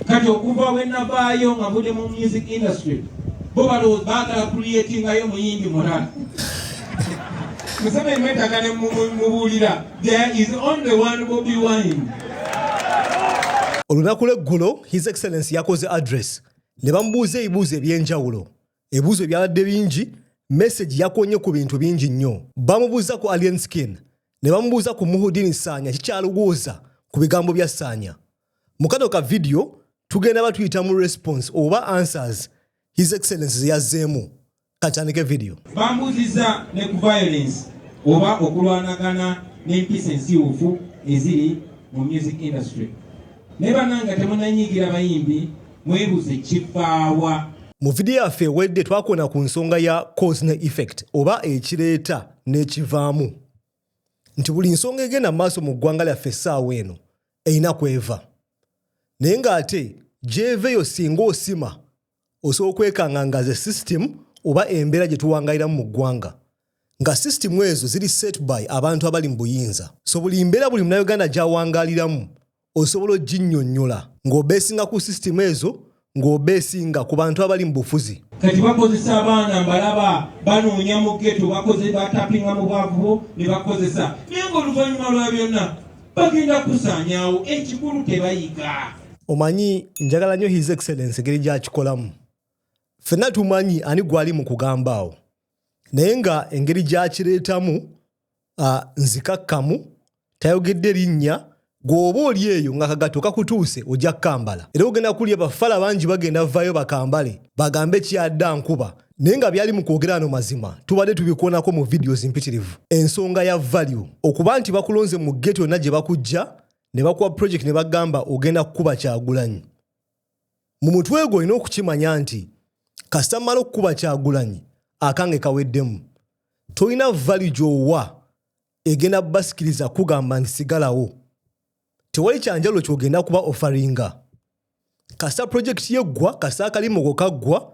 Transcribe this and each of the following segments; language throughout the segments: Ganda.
kati okuva bwe navaayo nga mbude mu music industry bo balowooza baagala kuliyetingayo muyimbi mulala museveni mwetaga ne mubuulira there is only one bobi wine olunaku lweggulo his excellence yakoze address ne bamubuuza ebibuuzo ebyenjawulo ebibuuzo ebyabadde bingi message yakonye ku bintu bingi nnyo bamubuuza ku alien skin ne bamubuuza ku muhudini saanya kikyaluguuza ku bigambo bya saanya mu kano ka vidiyo tugenda batuyita mu response oba answers his excellence zeyazzeemu katandike vidiyo bambuziza ne ku violence oba okulwanagana n'empisa ensiwufu eziri mu music industry naye bananga temunanyigira bayimbi mwebuze kifaawa mu vidiyo yaffe ewedde twakona ku nsonga ya cause ne effect oba ekireeta n'ekivaamu nti buli nsonga egenda mu maaso mu ggwanga lyaffe essaawa eno erina kweva naye ng'ate gy'eva eyo singa osima osobola okwekanganga ze system oba embeera gye tuwangaliramu mu ggwanga nga system ezo ziri set by abantu abali mu buyinza so buli mbeera buli munauganda gy'awangaliramu osobola oginnyonnyola ng'obeesinga ku system ezo ng'obeesinga ku bantu abali mu bufuzi. Kati bakozesa abaana mbalaba banoonya mu ghetto bakoze batapinga mu bwavu ne bakozesa naye ng'oluvannyuma lwa byonna bagenda kusaanyaawo ekikulu tebayiga. Omanyi njagala nnyo His Excellence engeri gy'akikolamu. Ffenna tumanyi ani gwali mu kugamba awo. naye nga engeri gyakireetamu nzikakkamu tayogedde linnya gweoba oli eyo nga kagato kakutuuse ojja kukambala era ogenda kulya bafala bangi bagenda vayo bakambale bagambe kyadda nkuba naye nga byali mu kwogera ano mazima tubadde tubikoonako mu vidiyo zimpitirivu ensonga ya value okuba nti bakulonze mu geto yonna gye bakujja ne bakuwa project ne bagamba ogenda kukuba kyagulanyi mu mutwe gwo olina okukimanya nti kasita mala okukuba kyagulanyi akange kaweddemu tolina valu gyowa egenda basikiriza kugamba nti sigalawo tewali kyanjalo kyogenda kuba ofaringa kasita projekiti yeggwa kasita akalimoko kaggwa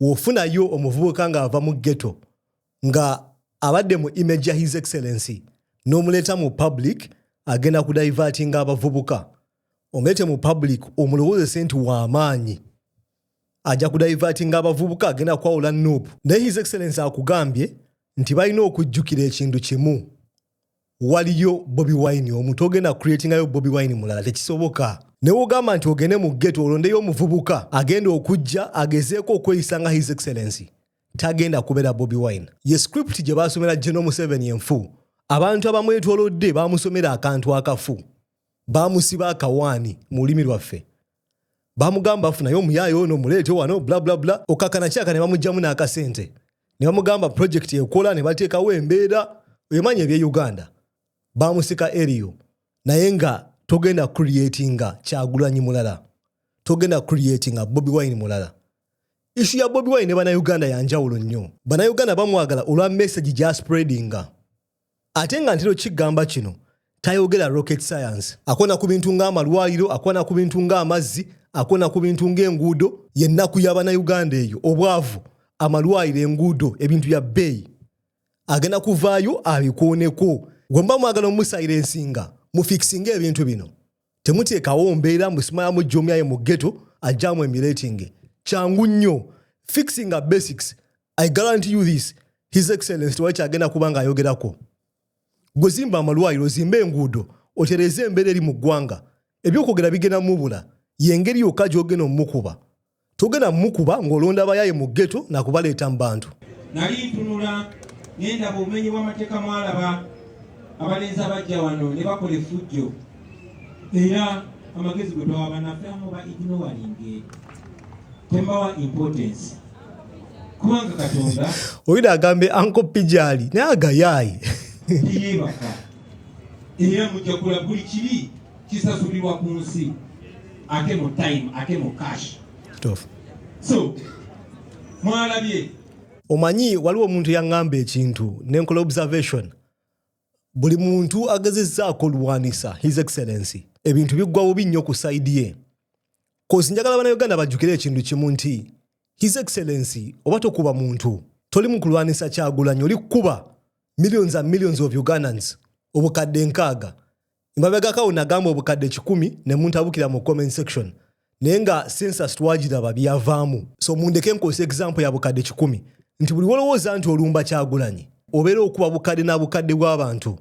wofunayo omuvubuka ng'ava mu ghetto nga abadde mu image ya his excellency n'omuleeta mu public agenda kudivertinga abavubuka omuleete mu public omulowoozese nti w'amaanyi ajja kudivertinga abavubuka agenda kwawula nup naye his excellency akugambye nti balina okujjukira ekintu kimu waliyo bobi wine omu togenda creatingayo bobi wine mulala tekisoboka naye ogamba nti ogende mu geto olondeyo omuvubuka agenda okujja agezeeko okweyisa nga his excellency tagenda kubeera bobi wine ye script gye baasomera geno museveni enfu abantu abamwetolodde bamusomera akantu akafu bamusiba akawaani mu lulimi lwaffe bamugamba afunayo omuyaayi ono muleete wano blablabla okakana kyaka ne bamugjamu n'akasente ne bamugamba projekiti ekola ne bateekawo embeera oyomanyi ebye uganda bamusika eriyo naye nga togenda creatinga kyagulanyi mulala togenda creatinga bobi wine mulala ishu ya bobi wine ne banauganda yanjawulo nnyo banauganda bamwagala olwa message gyaspreadinga ate nga ntero kigamba kino tayogera rocket science akona ku bintu ng'amalwaliro akona ku bintu ng'amazzi akona ku bintu ng'enguudo yennaku y'abanauganda eyo obwavu amalwaliro enguudo ebintu bya bbeeyi agenda kuvaayo abikooneko gwe mba mwagala omusayira ensinga mufikisinga ebintu bino temuteekawo mbeera mbu simayamu jomyaye mu geto ajjamu emulatinge kyangu nnyo fixing a basics i guarantee you this his excellence tewali kyagenda kuba nga ayogerako gwe zimba amalwaliro zimba enguudo otereeze embeera eri mu ggwanga ebyokwogera bigenda mubula yengeri yokka gyogenda omumukuba Togenda mukuba ng'olonda abayaaye mu ghetto na kubaleeta mu bantu. Nali ntunula ne ndaba obumenyi bw'amateeka mwalaba abalenzi abajja wano ne bakola effujjo era amagezi gwe twawa bannaffe amu ba ignowalinge tembawa importance kubanga katonda oyina agambe anko pijali naye agayaayi teyebaka era mujja kulabuli kibi kisasulirwa ku nsi ate mu time ate mu cash so mwalabye omanyi waliwo omuntu yaŋŋamba ekintu nenkola observation buli muntu agezezzaako oluwanisa his excellency ebintu biggwa bubi nnyo ku saidi ye kozi njagala bana uganda bajjukire ekintu kimu nti his excellency oba tokuba muntu toli mu kulwanisa kyagulanyi oli kukuba millions and millions of ugandans obukadde nkaaga emabegakawo nagamba obukadde kikumi ne muntabukira mu comment section naye nga census twagiraba byavaamu so mundeke nkozesa example ya bukadde kikumi nti buli wolowooza nti olumba kyagulanyi obeera okuba bukadde na bukadde bw'abantu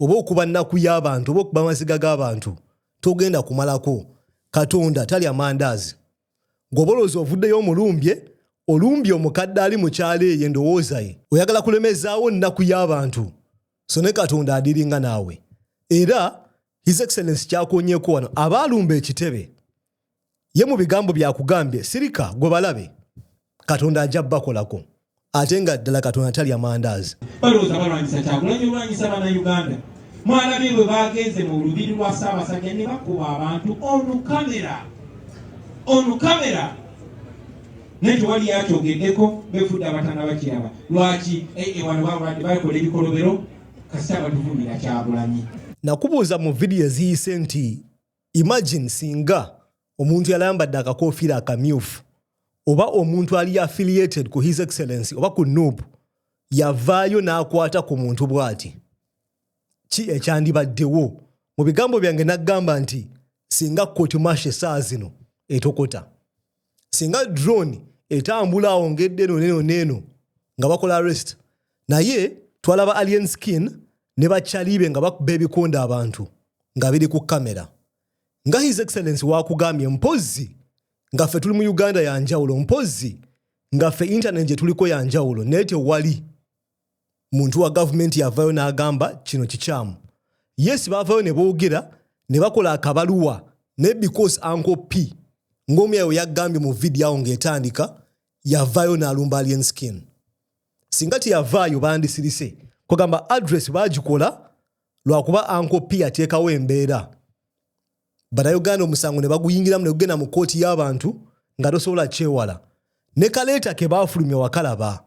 oba okuba nnaku y'abantu oba okuba amaziga g'abantu togenda kumalako katonda tali amandaazi ng'obolooza ovuddeyo omulumbye olumbye omukadde ali mukyalo eyo endowooza ye oyagala kulemezaawo nnaku y'abantu so ne katonda adiringa naawe era his excellence kyakonyeko wano abaalumba ekitebe ye mu bigambo byakugambye sirika gwe balabe katonda ajja bakolako ate nga ddala katonda tali amandaazi balowooza balwanyisa kyakulanya olwanyisa banauganda mwalabye bwe bagenze mu lubiri lwa ssaabasajja ne bakuba abantu olukamera olukamera naye tewali yakyogeddeko befudde abatana bakiraba lwaki ewano balwadde bakola ebikolobero kasita batuvumira kyagulanyi nakubuuza mu vidiyo eziyise nti imagine singa omuntu yalambadde akakofiira akamyufu oba omuntu ali affiliated ku his excellency oba ku noob yavaayo n'akwata ku muntu bw'ati ki ekyandibaddewo mu bigambo byange nagamba nti singa kotimasha esaawa zino etokota singa drone etambula awo ngedde eno neno neno nga bakola arrest naye twalaba alien skin ne bacalibe nga bakuba ebikonda abantu nga biri ku kamera nga his excellence wakugambye mpozzi nga ffe tuli mu uganda yanjawulo mpozzi nga ffe internet gye tuliko yanjawulo naye tewali muntu wa gavumenti yavayo n'agamba kino kikyamu yes baavayo ne boogera ne bakola akabaluwa naye because anko p ng'omyayo yagambye mu vidiyo awo ng'etandika yavayo n'alumba alien skin singa teyavaayo bandisirise kwegamba address baagikola lwakuba anko p ateekawo embeera banauganda omusango ne baguyingiramu ne gugenda mu kkooti y'abantu nga tosobola kyewala ne kaleeta ke baafulumya wakalaba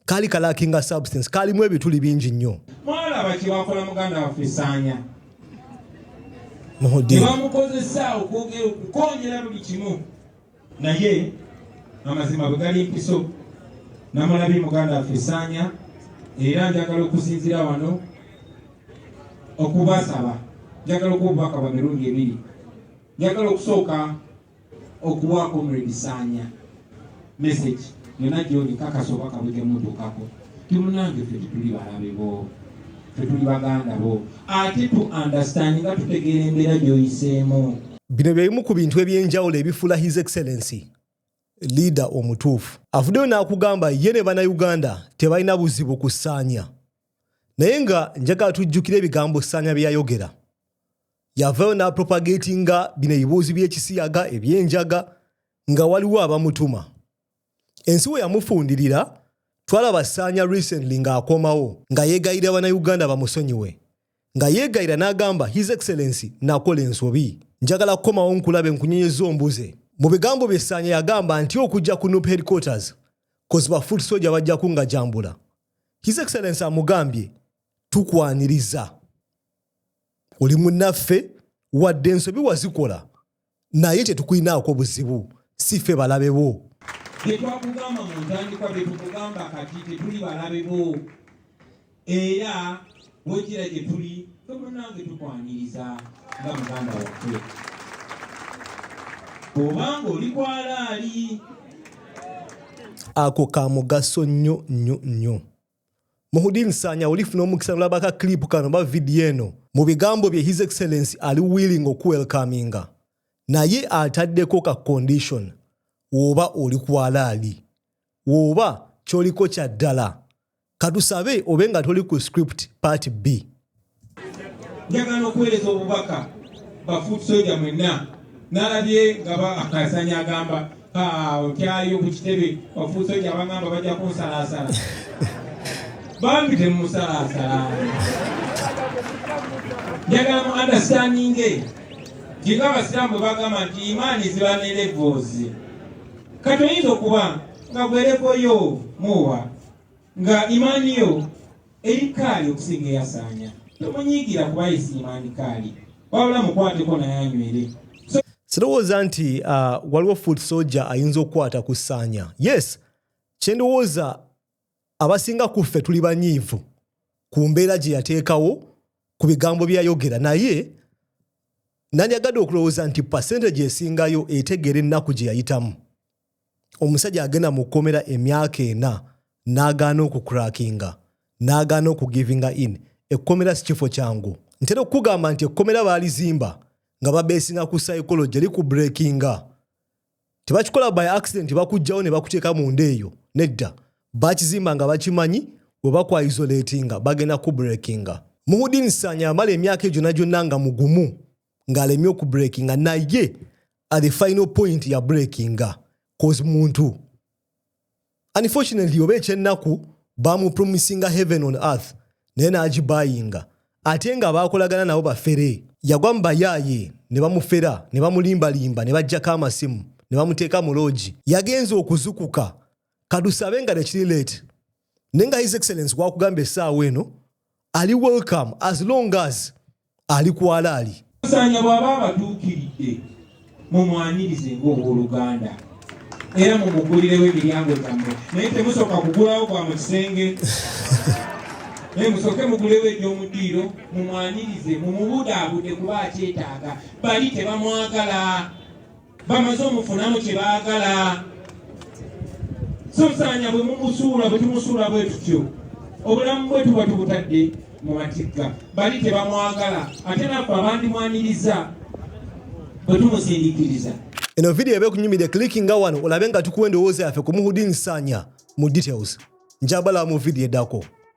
kaali kalakinga substance kaalimu ebituli bingi nnyo mwalaba kyebakola muganda waffe saanya nebamukozesa okwogera okukonyera buli kimu naye amazima bwe gali mpiso namulabye muganda waffe saanya era njagala okusinzira wano okubasaba njagala okuba obubaka bwa mirundi ebiri njagala okusooka okuwa comrade Sanya message yona gyoli kakasa oba kabwe kemutuukako timunange ffe tetuli balabe bo tetuli baganda bo ate tu understand nga tutegeera embeera gyoyiseemu bino byebimu ku bintu ebyenjawulo ebifuula his excellency liida omutuufu avuddeyo n'akugamba ye ne banauganda tebalina buzibu ku saanya naye nga njagala tujjukire ebigambo saanya bye yayogera yavayo n'apropagatinga bino ebibuuzi by'ekisiyaga eby'enjaga nga waliwo abamutuma ensi we yamufundirira twalaba saanya recently ng'akomawo nga yeegayira bannayuganda bamusonyiwe nga yeegayira n'agamba his excellency nakola ensobi njagala kukomawo nkulabe nkunyonyeza ombuze mu bigambo bye saanya yagamba nti okujja ku nup headquarters koziba foot soja bajja kungajambula his excellency amugambye tukwaniriza oli munaffe wadde ensobi wazikola naye tetukulinaako buzibu si ffe balabe bo byetwakugamba mu ntandikwa byetukugamba kati tetuli balabe bo era wekira gye tuli tomunange tukwaniriza nga muganda waffe obanga oli kwalaali ako ka mugaso nnyo nnyo nnyo Muhudi Nsanya olifuna omukisa nolaba ka clip kano oba vidiyo eno. Mu bigambo bye His Excellency ali willing okuwelkaminga naye ataddeko ka condition woba oli kwalaali woba kyoliko kyaddala. Katusabe obe nga toli ku script part bbi. njagala okuweereza obubaka bafuutusoja mwenna nalabye nga akasanya agamba otyayo ku kitebe bafuutusoja abangamba bajja kunsalaasala bambi temumusalaasala njagala mu andastandinge ntinga abasiraamu bagamba nti imaani ziba nerevoozi kati oyinza okuba nga gwerevoyo muwa nga imaani yo Eri Kkaali okusinga eyasaanya. Tomunyiigira kuba yesiima ndi Kkaali. Wabula mukwateko naye anywere. Sirowooza nti uh, waliwo foot soja ayinza okukwata ku ssaanya. Yes, kyendowooza abasinga ku ffe tuli banyiivu ku mbeera gye yateekawo ku bigambo bye yayogera naye nandiyagadde okulowooza nti pasenteji esingayo etegeera ennaku gye yayitamu omusajja agenda mu kkomera emyaka ena n'agaana okukurakinga n'agaana okugivinga in ekkomera si kifo kyangu ntera okukugamba nti ekkomera baalizimba nga babeesinga ku psychology eri ku breakinga tebakikola by accident bakugjawo ne bakuteeka munda eyo nedda bakizimba nga bakimanyi we bakwaisolatinga bagenda ku breakinga muhudin sanya amala emyaka egyo nagyonna nga mugumu ng'alemye okubreakinga naye at the final point ya breakinga cause muntu unfortunately oba ekyennaku bamupromisinga heaven on earth naye n'agibayinga ate nga baakolagana nabo bafere yagwa mu bayaaye ne bamufera ne bamulimbalimba ne baggyako amasimu ne bamuteeka mu loogi yagenze okuzukuka kadusabe nga nekiri late naye nga his excellence gwakugamba essaawa eno ali welcome as long as ali kwalaali sanya bw'aba abatuukiridde mumwanirize ng'owoluganda era mumugulirewo emiryango gyammwe naye temusooka kugulawo kwa mu kisenge naye musooke mugulewo eby'omudiiro mumwanirize mumubudaabude kuba akyetaaga bali tebamwagala bamaze omufunamu kye baagala sasaanya bwe mumusuula bwe tumusuula bwe tutyo obulamu bwe tuba tubutadde mu matigga bali tebamwagala ate naffe abandimwaniriza bwe tumusindikiriza eno vidiyo eba ekunyumidde clickinga wano olabe nga tukuwa endowooza yaffe ku muhudin saanya mu details njabala mu vidiyo eddako